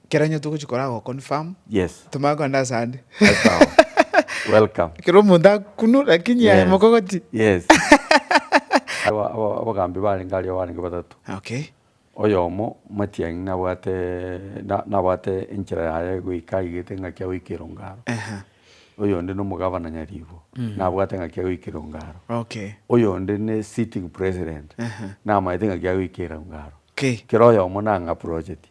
Kero onye togochia kora go confirm. Yes. Tomanye kogenda ase ande. Sawa. Welcome. Ekero omonto akunwa lakini aye Yes. mokogoti. Yes. Aba- aba- Abagambi barenge aria barenge batato. Okay. Oyomo matiang'i nabwate na- nabwate enchera yaye goika aigete ng'aki agoika erongaro. Ehe. Oyonde nomogabana nyaribo nabwate ng'aki agoika erongaro. Okay. Oyonde ne sitting president Ehe. namaete ng'aki agoika erongaro. Okay. Kera oyomo nang'aprocheti.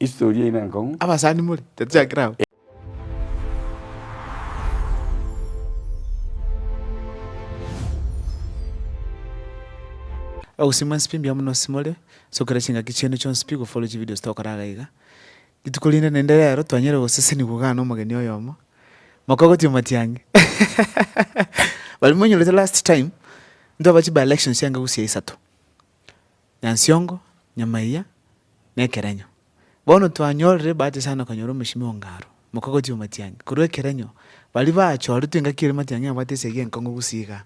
History eye nenkong'u. Abasani more tatichakire abwo. Ogosimwa nsipi mbuya mono simore, sokera chingaki chiane chionsi pi gofollow chivideos tokora iga iga. Rituko rinde naende rero twanyare gosesenigwa igaa nomogeni oyomo, moka ogotia omatiang'i baria monyorete last time, ntwabache by elections chianga gose chia isato. Nyansiongo, Nyamaiya, na Ekerenyo. Bono twanyorire ebahati sana okonyora omochimi o Ngaro, omokogoti omatiangi, korwa Ekerenyo. Baria bachoretwe engaki ere matiangi abwate esegi enkong'u gusii iga.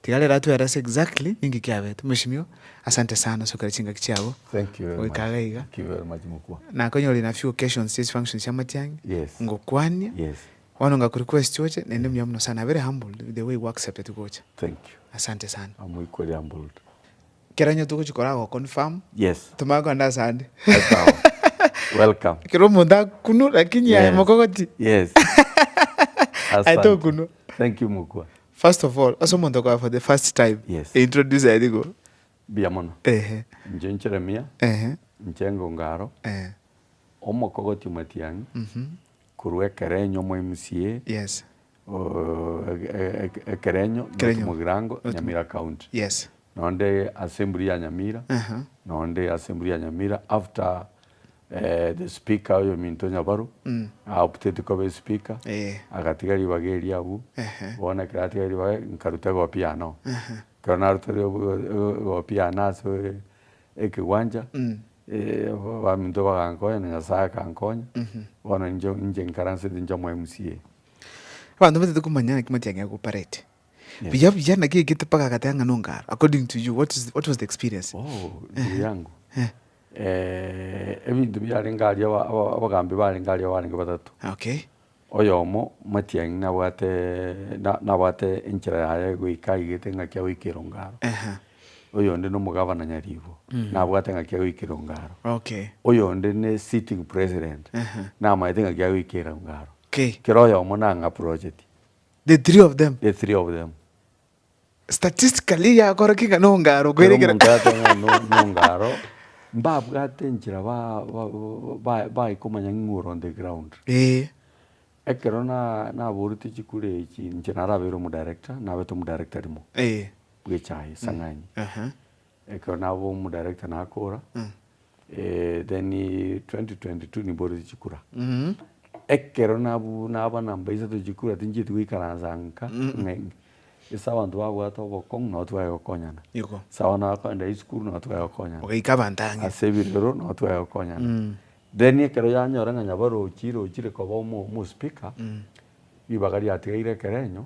Tiga rero atwere ase exactly ninki kiabete. Omochimi oo, asante sana ase okera chingaki chiabo Thank you very much. goika iga iga. Thank you very much mokubua. Nakonyora in a few occasions chia chifunctions chia amatiangi, Yes. ngokwania, Yes. bono onga kuri quest oche, naende mbuya mono sana. Very humbled with the way gwa accepted gocha. Thank you. Asante sana. Amoikwe ria mbulda. Kero onye togochia korwa go confirm. Yes. Tomanye kogenda ase ande. Sawa. Welcome. Kero omonto akunwe lakini aye Yes. mokogoti. Yes. Aye Asante. tokunwa. Thank you mokwa. First of all, ase omonto okoa for the first time. Yes. Introduce aye rigo. Mbuya mono. Ehe. Inche Jeremia, Ehe. inche Engongaro, Ehe. omokogoti omatiang'i, korwa ekerenyo omoimsie, Yes. Ekerenyo, North Mugirango, Nyamira County. Nonde Assembly ya Nyamira, nonde Assembly ya Nyamira after the speaker oyominto Nyabaru a opted kobe speaker, agatiga ribaga eria abwo, bono ekero atiga ribaga nkaruta egopia anoo. Ekero narutire egopia anoo ase. ekegwancha, abaminto bagankonya, na Nyasae akankonya, bono inche inche nkaransete inche omweMCA. Abanto mbatete komanya naki Matiang'i agoparete buya buya naki egete mpaka agateba ng'a nongaro according to you what is what was the experience? Oh ndugu yangu ebinto biarenge aria aba aba abagambi barenge aria barenge batato. Okay. Oyomo matiang'i nabwate na, nabwate enchera yaye goika aigete ng'aki agoika erongaro. Ehe. Oyonde nomogabana nyaribo, nabwate ng'aki agoika erongaro. Okay. Oyonde ne sitting president, Ehe. namaete ng'aki agoika erongaro. Okay. Kera oyomo nang'aprojeti. The three of them. The three of them. Statistically yakora ki ng'a nongaro Kera kwere omonto agoteba ng'a no- nongaro, mbabwate enchera ba- ba- ba- bae komanya ng'a ore on the ground. Ee. Ekero na- naboretie chikura echi, inche narabeire omodarector, nabete omodarector rimo Ee. bw'echae esang'ani. Aha. Ekero naba omudirector nakora, then 2022 nimboretie chikura. Ekero nabwo naba number isato ya chikura tinchieti goikaransa nka ng'a ase abanto babwate obokong'u nabo tware gokonyana. Ase abana bakogenda esukuru nabo tware gokonyana. Ogaika abanto ang'e. Ase ebirero nabo tware gokonyana. Then ekero yanyora ng'a nyabarochi rochire koba omo omo speaker, ribaga riatigaire ekerenyo,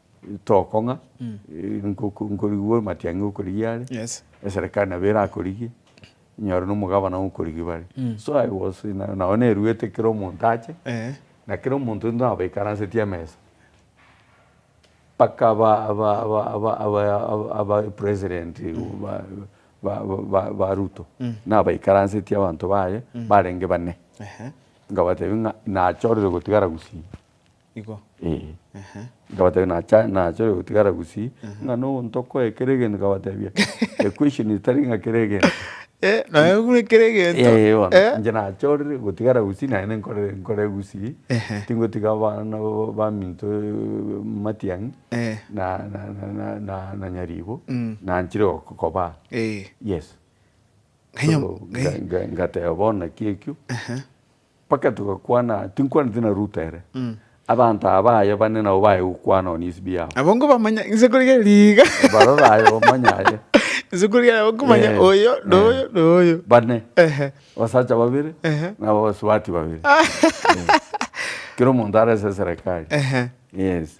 tokong'a, nkorigwe amatiang'i okorigia are, eserekari nabo erakorigie, inyore na omogabana okorigia bare. So I was in a nao neruete kera omonto ache, na kera omonto intwe nabo baikaransetie emesa, mpaka aba aba aba aba aba president ba ba ba ba ruto, nabo baikaransetie abanto baye, barenge bane, nkabatebi ng'a nachorire gotigara gusii. Igo? Ee. Ehe. Nkabatebia, Nacha, nachore gotigara gusii, ng'a noyo ntokoe kera egento, nkabatebia, equation etari ng'a kera egento. Eh, noyo buna kera egento. Ee, bono, Eh? inche nachorire gotigara gusii, naye nenkore nkore gusii, Ehe. tingotiga abana ba- baminto matiang'i, Eh. na, na, na, na, na, na nyaribo, Mm. nanchire goko- kobaa. Ee. Yes. Ng'anya- So, nga- nga- ngateba bono naki ekio. Ehe. Mpaka togakwana, tinkwaneti na Ruta ere, abanto aba baye bane nabo baye gokwana oo nisibio yabo. Abwo nkobamanya inse korigia riiga. Baroro aye bamanya aye. Inse korigia nabo nkomanya Eh, oyo na eh. oyo na oyo. Bane, Ehe. abasacha babere Ehe. na abasubati babere. Eh, Kera omonto arese eserekari. Ehe. Yes.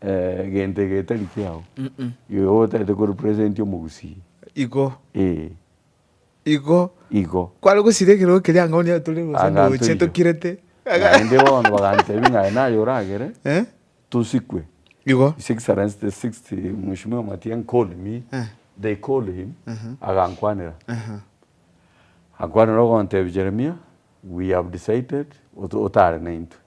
Egento egetari kiao, igo otaete ko representi omogusii. Igo. Ee. Igo. Igo. Kware gosira ekero ekeria anga onye tore gose ndoche tokirete. Naende bono bagantebia ng'a aye naye oragere tosikwe. Igo. His Excellency the sixth Mheshimiwa Matiang'i called me, they called him, agankwanera. Akwanera ogontebia Jeremia, we have decided otare naintwe.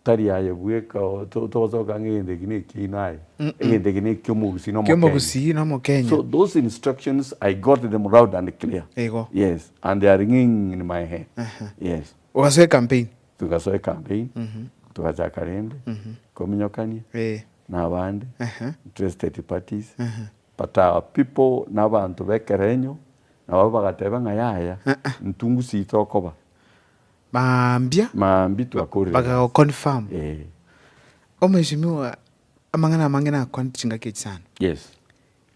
Tari aye bweka, o, to- togosoka ng'a egento eke nekiaino aye, egento eke nekiomogusi na omokenya. Kiomogusi na Omokenya. So those instructions I got them loud and clear. Igo. Yes, and they are ringing in my head. Aha. Yes. Ogasoa ecampaign. Tugasoa ecampaign, tugachaka rende kominyokania Eh. na abande, Aha. interested parties, Aha. but our people na abanto b'ekerenyo nabo bagateba ng'a yaya, ntungusi tokoba. Mambia. Mambia twakorire gasi. Bagago confirm. Eeh. Omheshimiwa amang'ana amange nakwanete chingaki echi sana. Yes.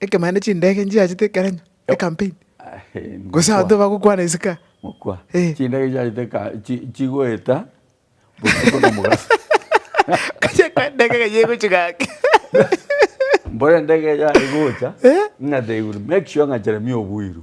Ekemo naende chindege nchiachete ekerenyo, ecampaign. Gose abanto bagokwana isiko. Mokwa. Eeh. Chindege chiachete eka chigoeta botuko na omogaso. Okachia koa endege iga yegochia gaki. Mbore endege eye yaye egocha. Eeh. Ng'a they will make sure ng'a Jeremia obuirwe.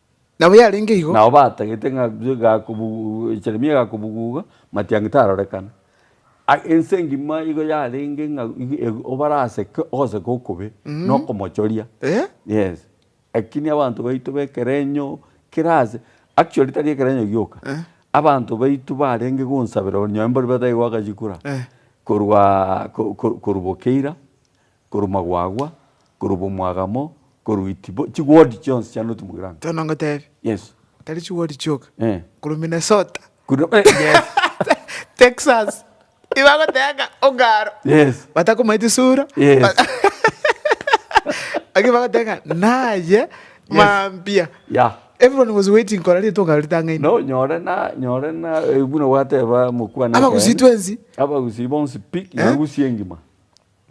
Nabo yarenge igo. Nao batagete ng'a Jeremia gakobuguga, matiang'i tarorekana. Ense engima igo yarenge ng'a obaraseke ogoseke okobe na okomochoria. Yes, lakini abanto baito b'ekerenyo kera aase, actually tari ekerenyo gioka, abanto baito barenge gonsabera onye mbori batari goaka chikura korwa boka eira. Korwa magwagwa, korwa bomwagamo, korwa itibo, chiwodi chionsi chia North Mugirango. Tono ngotebi. Yes. Tari chiwodi chioka. Eh. Korwa Minnesota. Korwa eh yes. Texas. Ibagoteba ng'a ongaro. Yes. Batakomaeti sura. Yes. Lakini bagoteba ng'a naye mambia. Yeah. Everyone was waiting kora rituko ongaro ritang'aine. No nyore na nyore na buna gwateba mokwana. Abagusii twensi. Abagusii bonsi pi. Abagusii engima.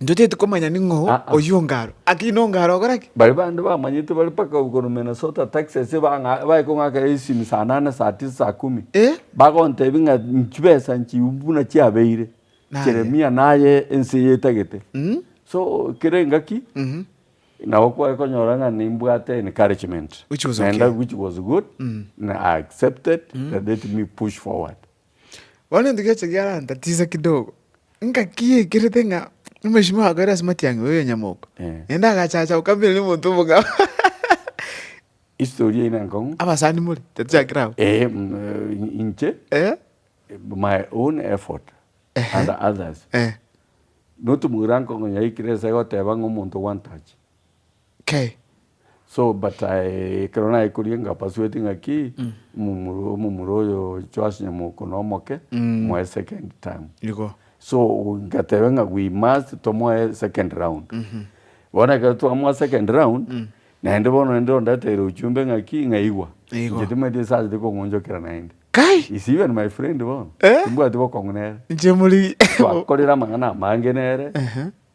Intwe titikomanya ning'o Aa. oyio Ongaro. Aki n'Ongaro ogora ki? Baria bande bamanyete bare mpaka gokorwa Minnesota, Texas, ebang'a bae kong'aka esimi saa nane, saa tisa, saa kumi, Eh? bagontebia ng'a chibesa nchiumbu buna chiabeire, Naye. Jeremia, naye ense eye etagete. Mm. So, kere engaki, Mhm. nabo kware konyora ng'a nimbwate encouragement. Which was okay. Naende which was good, na I accepted, let me push forward. Bono ntigeche giarantatiza kidogo, engaki yaikirete ng'a omosimi oye akoira ase matiang'i oyo nyamoko, Eh. naende agachacha gokamera na omonto omong'ao. History eye nenkong'u. Abasani more, tatiakire abwo. Eh, mm, eh, inche, Eh? my own effort Ehe. and others. Eh. Notumura nkong'u yaikire ase goteba ng'a omonto one touch. K. So but I ekero naikorie inga persuade ng'aki omomura omomura oyo Joash Nyamoko nomoke moe second term. Igo. So ngateba ng'a we must tomoe second round. Bono ekero twamoa second round naende bono naende ondeteire uchumbe ng'aki ng'a igwa Igo. inche timanyeti ase achete kong'onchokera naende. Kai! Is even my friend bono. Eh? Timbwati bokong'u nere. Inche muri. Twakorire amang'ana amange nere. Ehe.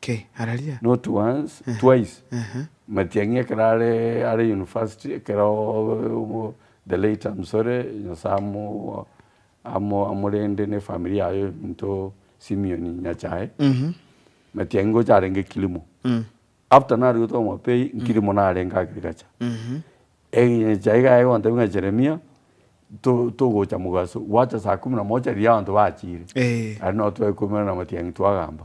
Ki? Araria? Not once, Ehe. twice. Ehe. Matiang'i ekero are are university ekero obo the late Amsore Nyasaye amo amo amorende ne family yaye ominto Simeon Nyachae. Mhm. Matiang'i ngocha arenge Kilimo. Mm. After narigote omopei nkilimo narenge agriculture. Mhm. Enyachae iga yagontebia ng'a Jeremia to togocha mogaso gwacha saa kumi na moja riria abanto bachire. Eeh. Aria nabo twaekumera na Matiang'i twagamba.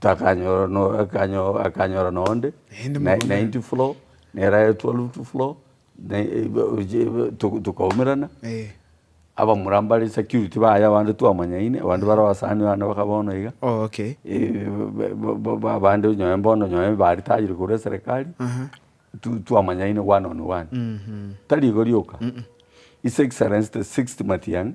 takanyora no akanyo akanyora na onde Naende na mogondo. ninety floor neraye twelfth floor na ebe to tokaumerana Eh. abamura mbare security baye abande twamanyaine abande bare abasani bane baka bono iga Oh okay. eh ba- ba- ba abande nonye bono nonye baritajire korwa eserekari Aha. tu twamanyaine one on one Mhm. tari igo rioka His Excellency the sixth Matiang'i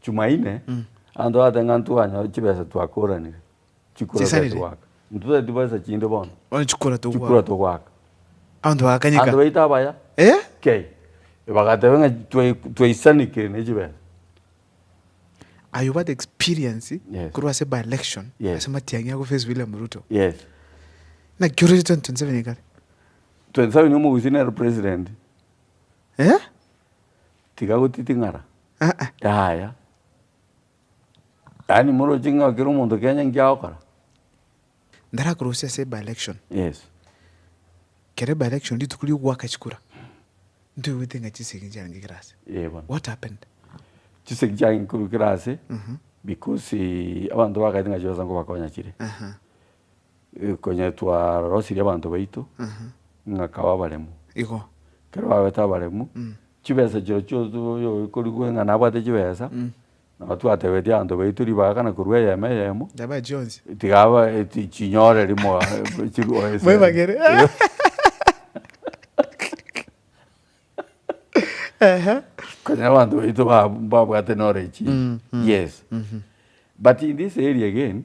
Chumaine, abanto bagateba ng'a ntwanyora chibesa twakoranire chikura Chisarire. gose goaka. Ntotari tibesa chinde bono, Bono chikura togwa. chikura togoaka. Abanto bagakanyeka. Abanto baito abaya, Eh? kei, bagateba ng'a twai- twaisanekire ne chibesa. Aye obwate experience Yes. korwa ase by-election Yes. ase matiang'i ago face William Ruto. Yes. Naki ororire 2027 igare. 27 omogusii nere president. Eh? Tiga gotiting'ara. Aa. Yaya. Yaani moroche ng'a kera omonto kenya inki agokora. Ndarakorose ase by election. Yes. Kere by election rituko ria ogoaka chikura. Ntoigwete ng'a chisegi chiarenge kera ase. Ee bono. What happened? Chisegi chiarenge korwa kera ase. Because abanto bagaete ng'a chibesa nkobakonya chire. Aha. Konya twarosirie abanto baito ng'akaba abaremu. Igo. Kero babete abaremu, chibesa chirochio chionsi oyokorigwe ng'a nabwate chibesa, nabo twatebetie abanto baito ribaga kana korwa eyemo eyemo. Yabae chionsi. Tiga abae chinyore rimo chirwe ase. Mwebagere. Ehe. Konya abanto baito babwate knowledge. Yes. But in this area again.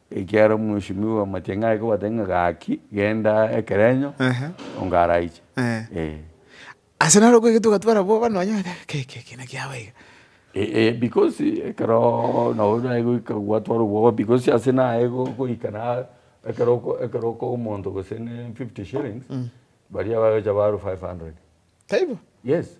Ekiagera omweshomio bw'amatiang'a aye kobatebia ng'a gaki, genda ekerenyo, Ehe. onga araiche. Eh. Eh. Ase naro okwo egetwe gotwara abwo bono onye ote keki eki naki yago iga. Eh, eh, because ekero nabo naye goika gwatwara obwoba because ase naye go- goika na ekero oko ekero okoa omonto gose ne 50 shillings, baria bagocha barwa 500. Taibo? Yes.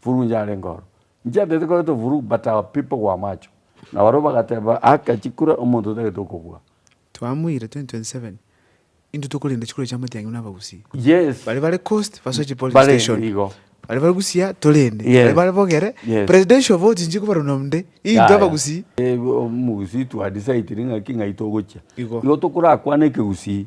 Furu inche narenge oro. Inche atagete koretwa furu but our people were macho. Na barabwo bagateba aka chikura omonto otagete okobua. Twamuire 2027 intwe tokorenda chikura chia amatiang'e buna abagusii. Yes. Baria bare coast basoe chi polling Bare station. igo. Baria bare busia torende. Yes. Baria bare bogere Yes. presidential vote inche kobaruna onde. Intwe Yaya. abagusii. Ee, omogusii twa decide ring'aki ng'ai togochia. Igo. Igo tokorakwane ekegusii.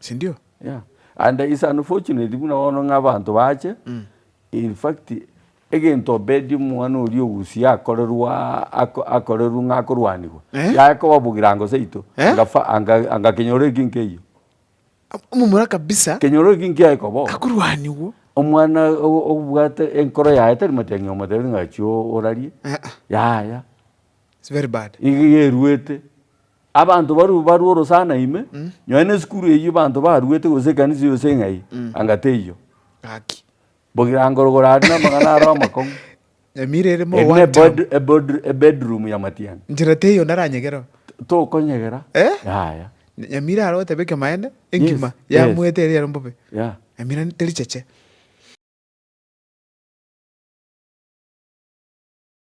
sindio? Yeah and it's unfortunate buna bono ng'a abanto bache, in fact egento Obedi omwana oria ogusia akorerwa aa akorerwa ng'a akorwanigwa, yaye kobabugira ango seito, anga fa anga kenyoro ekio nkeiyo. Omomura kabisa. Kenyoro ekio nkiaye koba oo. Akorwanigwa. Omwana obwate enkoro yaye tari matiang'i omotebi ng'a achia orarie, yaya. It's very bad. Iga eruete. Abanto barue barue orosana ime, nonye nesukuru eyio banto baruete gose ekanisa yonsi eng'ai, anga teiyo. Gaki. Bogirangorogoro aria namagana aro amakong'u. Emira erimo Eri one ne term. bed- ebod- ebedroom ya matiang'i. Njera teiyo naranyegere oo. Tokonyegera. Eh? Yaya. Nyamira aro otebe kemaene, Yes, engima yes. yamuete eri ero mbobe. Yeah. Emira tericheche.